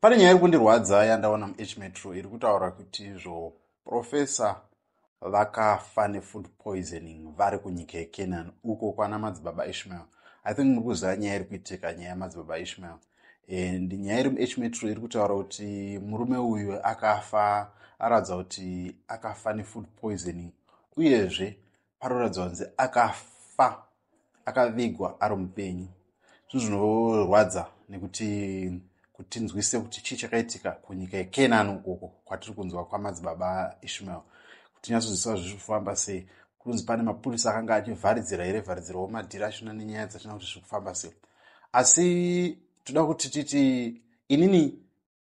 pane nyaya iri kundirwadza yandaona muhmetro iri kutaura kuti izvo profesa vakafa nefood poisoning vari kunyika yecanaan uko kwana madzibaba ishmael i think muri kuziva nyaya iri kuitika nyaya yamadzibaba ishmael and nyaya iri muhmetro iri kutaura kuti murume uyu akafa aratidza kuti akafa nefood poisoning uyezve paroratidza kunzi akafa akavigwa ari mupenyu zvinhu zvinorwadza nekuti kuti tinzwise kuti chii chakaitika kunyika yekenani ukoko kwatiri kunzwa kwamadzibaba ishmael kuti tinyatsonzwisisa zviri kufamba sei kunzi pane mapurisa akanga achivharidzira here vharidzira womadhiri achina nenyaya dzachina kuti zviri kufamba sei asi toda kuti titi inini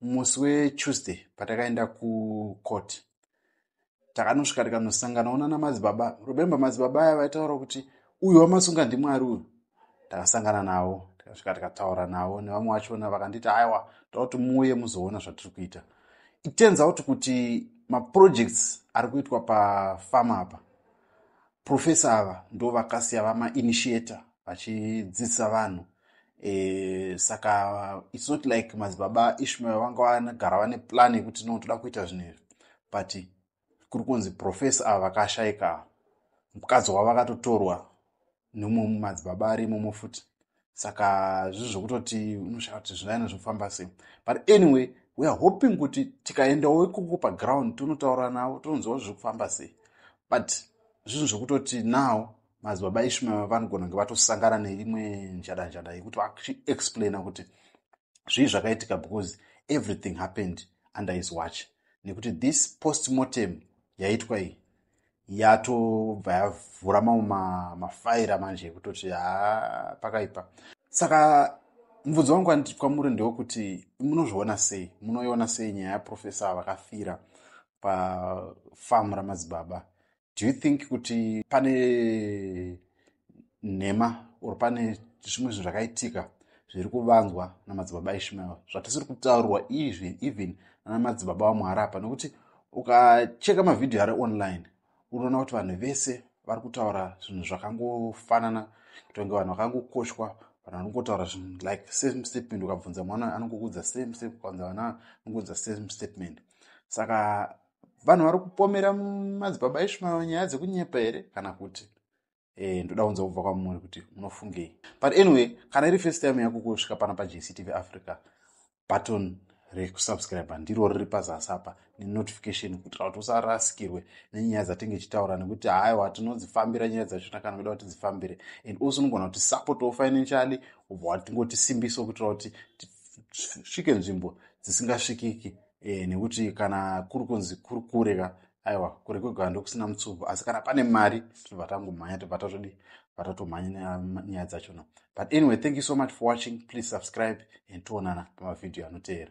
musi wetuesday patakaenda kucourt takanosvika tikanosangana onana madzibaba remembe madzibaba aya vaitaura kuti uyu wamasunga ndimwari uyu takasangana navo tikasvika tikataura navo nevamwe vachona vakanditi aiwa taakuti muuye muzoona zvatiri kuita it turns out kuti maprojects ari kuitwa pafama apa profesa ava ndo vakasiya vamainitiator vachidzidzisa vanhu e, saka its not like madzibaba ishmael vanga vanagara vane plan yekuti no toda kuita zvinhu izvi but kuri kunzi profesa ava vakashaika mukadzi wavo vakatotorwa nemumwe mumadzibaba ari imomo futi saka zvizi zvokutoti unoshaya kuti zvinaina zvinofamba sei but anyway weare hoping kuti tikaendawo ikoko paground tonotaura navo tononziwa zviri kufamba sei but zvinhu zvokutoti now madzibaba eshu mava vanogona kunge vatosangana neimwe njadanjada yekuti vachiexplaina kuti zvii zvakaitika because everything happened under his watch nekuti this post mortem yaitwa iyi yatobva yavhura mamwe mafaira manje ekutoti ha pakaipa saka mubvunzo wangu anditi kwamuri ndewokuti munozviona sei munoiona sei nyaya yaprofesa vakafira pafamu ramadzibaba do you think kuti pane nhema or pane zvimwe zvinhu zvakaitika zviri kuvanzwa namadzibaba ishmael zvatisiri kutaurwa izvi even nana madzibaba wamuhara apa nokuti ukacheka mavhidhiyo ari online unoona kuti vanhu vese vari kutaura zvinhu zvakangofanana kutonge vanhu vakangokoshwa vanhu vanongotaura zvinhu like same statement ukabvunza mwana anongokuudza same same ukaunza vana anongoudza same statement saka vanhu vari kupomera madzibaba ishmael nyaya dzekunyepa here kana kuti e, ndoda kunza kubva kwamuri kuti munofungei but anyway kana iri first time yako kusvika pana pajctv africa button rekusubscribe ndiro riri pazasi apa nenotification kuitira kuti usarasikirwe nenyaya dzatenge chitaura nekuti haiwa tinodzifambira nyaya dzachona kana kuda kuti dzifambire and also unogona kuti supportwo financially ubva watingotisimbiso kuitira kuti tisvike nzvimbo dzisingasvikiki e, nekuti kana kuri kunzi kuri kure ka aiwa kure kwegara ndokusina mutsubu asi kana pane mari tinobva tangomhanya tobva tatodi vatatomhanya nyaya dzachona but anyway thank you so much for watching please subscribe and toonana pamavhidhiyo anoteera